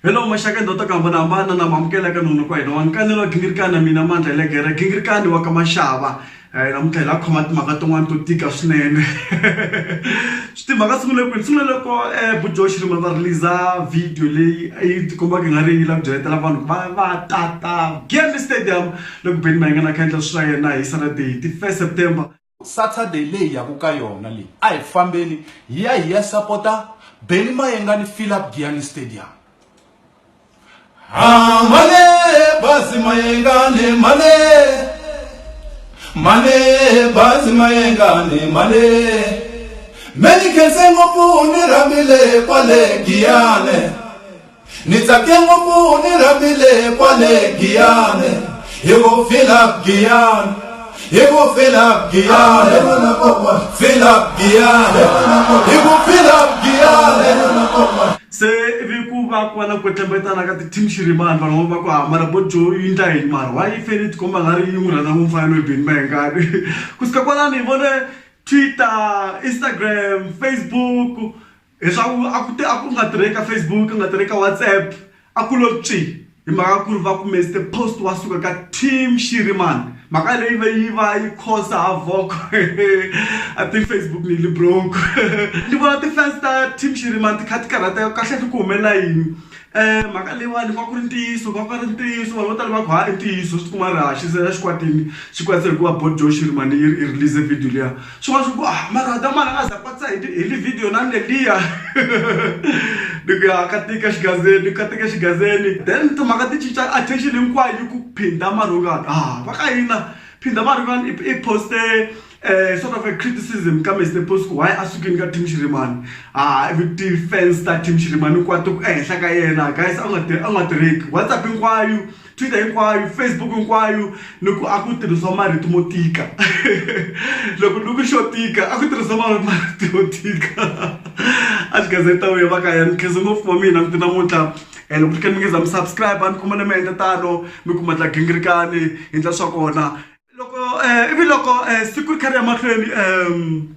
Hello mashaka ndoto kamba na mbana na mamkela ka nunu kwa ino wankani lo gingirikana mina mandla le gere gingirikani wa ka mashava eh na mutla la khoma timhaka tin'wana to tika swinene swi timhaka sungule kwini sungule loko eh bujoshi ri va release video leyi yi tikombaka nga ri yi la ku byeletela vanhu va va tata game stadium Le ku beni mahingana a kha a endla swilo swa yena hi Saturday ti 1 September. Saturday leyi hi yaka ka yona leyi a hi fambeni hi ya hi ya sapota Benny Mayengani Philip Giyani Stadium. Ha mane bazi mayengane mane mane bazi mayengane mane me ni khense ngopfu ni rhambile kwale Giyane Ni tsake ngopfu ni rhambile kwale Giyane hi ku fila Giyane hi ku fila Giyane fila Giyane hi ku fila Giyane se ivi ku va ku va na ku tlembetana ka ti-team xirimani vanhu va ku hamara bo jo yi ndla yini mara wa yi fele tikomba nga ri yi n'wi rhandza ngopfu mfanelo hi beni ma hengani ku suka kwalani hi vone twitter instagram facebook leswaku a ku a ku nga tirheki ka Facebook ku nga tirheki ka WhatsApp a ku lo pyi hi mhaka ku ri va ku Mister Post wa suka ka team Shiriman mhaka leyi va yi va yi khosa ha voko a ti Facebook ni li broke ni vona ti-fans ta team Shiriman ti kha ti karhateka kahle ku humelela yini mhaka leyiwani va ku ri ntiyiso va ku ri ntiyiso vanhu vo tala va ku ha i ntiyiso swi tikuma ri haxi se ra xikwatini xikwatisa hikuva bodo Shiriman yi release video liya. swin'wana swi ku ah mara adamani a nga za kwatisa hi hi livhidiyo na neliya ni ku ya ka tika xigazeni ka tika xigazeni then timhaka ti cinca attention hinkwayo yi ku phinda marhungani ah va ka hina phinda marhungani i poste um sort of a criticism ka mr post ku why a sukini ka team xirimani ah ivi ti-fans ta team xirimani hinkwato ku ehenhla ka yena guys a nga tirheki whatsapp hinkwayo twitter hinkwayo facebook hinkwayo ni ku a ku tirhisiwa marito mo tika loko ni ku xo tika a ku tirhisiwa marito yo tika a xi gazeta uya va ka ya ni khensa ngopfu wa mina miti namuntlha um loko ni khe ni mi nge za mi subscribe a ni khoma ni mi endla tano mi kuma tla gingirikani hi ndla swa kona loko um ivi loko um siku ri kha ri ya mahlweni um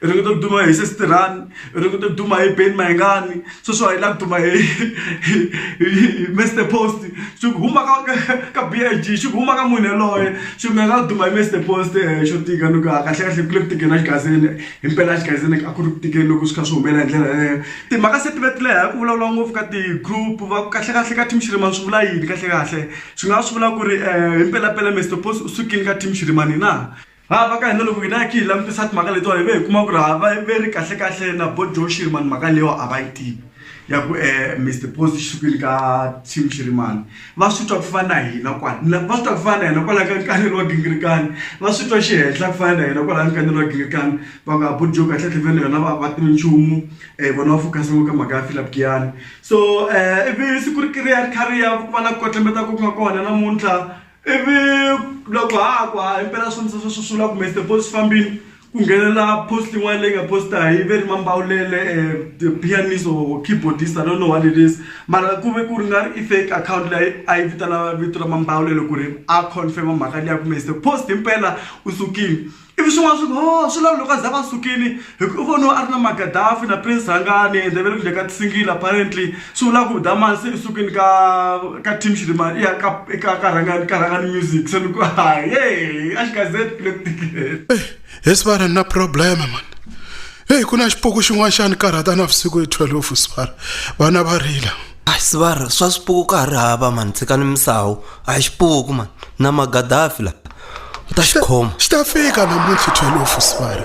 hi ringeta ku duma hi sesi tirhani hi ringeta ku duma hi beni mayingani sweswo hi lava ku duma hi hi mister post swi huma ka ka b i g swi huma ka munhu yaloye swi nga nga duma hi mister post xo tika ni ku a kahlekahle ku le ku tikeni a xigazini hi mpela a xigazini a ku ri ku tikeni loko swi kha swi humelela hi ndlela yaleyo timhaka se ti vetileha hi ku vulavula ngopfu ka ti-group va kahlekahle ka team xirimani swi vula yini kahlekahle swi nga swi vula ku ri hi mpelampela mister post u sukile ka team xirimani na ha va ka hina loko hina ki hi langutisa timhaka letiwani ve hi kuma ku ri ha va ve ri kahle kahle na bo joe shirimani mhaka leyiwa a va yi tivi ya ku eh, um mr post xi sukile ka team xirimani va swi twa ku fana na hina kwani va swi twa ku fana na hina kwalaho ka nkanelo wa gingirikani va swi twa xi henhla ku fana na hina kwalaho ka nkanelo wa gingirikani va nga bujo kahlekahle vene yona va va tivi nchumu um vona va focus ngo ka mhaka ya philip giyani so um ivi siku ri kiri ya ri kha ri ya ku va na ku kotlembeta ku nga kona namuntlha ivi loko ha ha ku ha impela swi ndzi swi sula kumbe swi deposit fambile ku nghenelela post yin'wana leyi nga posta hi ve ri mambawulele the pianist or keyboardist i don't know what it is mara ku ve ku ri nga ri i fake akhawunti leyi a yi vitana vito ra mambawulelo ku ri a confirm mhaka liya kumbe se post impela u sukile Ivi swin'wana swi ku, Hoo, swi lava loko a za va sukile, hi ku u voniwe a ri na Magadaffi na Prince Rhangani ende va le ku dya ka ti-single apparently. Swi vula ku Dha Mali se i sukile ka ka team Xirimani i ya ka ka ka Rhangani ka Rhangani Music. Se ni ku ahee, a Xikazeni ku le ku tikeni. He Sibara ni na problem man. Heyi ku na xipuku xin'wana xa ni karhata navusiku hi 12 Sibara, vana va rila. hayi sivara swa swipuku ka ha ri hava mani tshikani misawu a hi xipuku mani na magadafi la u ta xi khoma xi ta fika namuntlha thwelofu sivara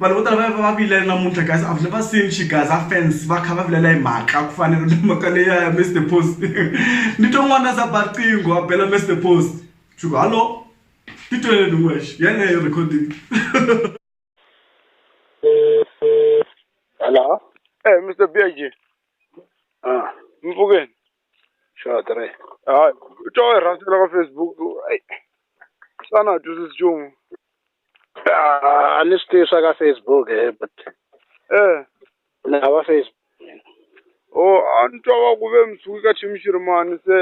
Vanhu vo tala va ya va va vilela namuntlha guys I've never seen Xigaza fans va kha va vilela hi mhaka ku fana na mhaka leyi ya Mister Post ni twe n'wana za ba riqingho a bela Mister Post swi ku hallo ti twele ni wexe yeleyo recording Hello. Eh Mister Big. Ah. Mpfhukeni. xa ha tirhi hayi u twa onge rhandi ra ka Facebook ayi xana a twisisi nchumu a ni swi tivi swa ka Facebook he but ni hava Facebook mina ho a ni twa va ku ve mi suka ka Tshimishirimani se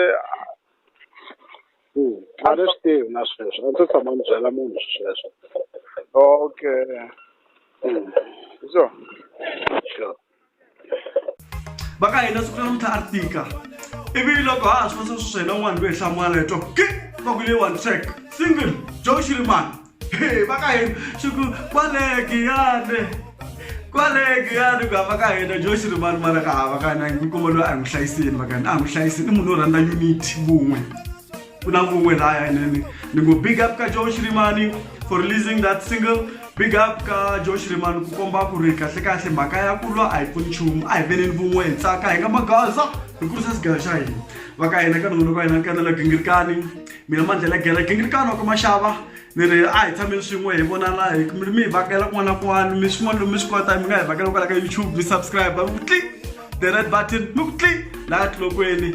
a ni swi tivi na sweswo a ni se tshama ni byela munhu sweswo okay hi swona sure. va ka hina siku ra namuntlha a ri tika ivi loko ha ha swi vasa sweswo hina un'wana loyi hi hlamula leto ke va ku leyiwani track single jo xirimani he va ka hina xi ku kwalegiyane kwalegiyane ku hava ka hina jo xirimani mara ka hava ka hina yi kuma loyi a hi n'wi hlayisini va ka hina a hi n'wi hlayisini i munhu wo rhandza unity vun'we Kuna Uwe Raya and Ningo. Big up ka Joe Shrimani for releasing that single. Big up ka Joe Shrimani kukomba ku ri kahle kahle mhaka ya ku lwa a hi pfuni nchumu a hi veneni vun'we hi tsaka hi nga magaza hi kurisa sigala xa hina va ka hina ka nuna ka hina kanela gingirikani mina mandlela gela gingirikani wa ka maxava ni ri a hi tshameni swin'we hi vonana hi mi hi vhakela kun'wana na kun'wana mi swin'wana lomi swi kota mi nga hi vhakela kwala ka youtube mi subscribe mi ku tli the red button mi ku tli laha tilokweni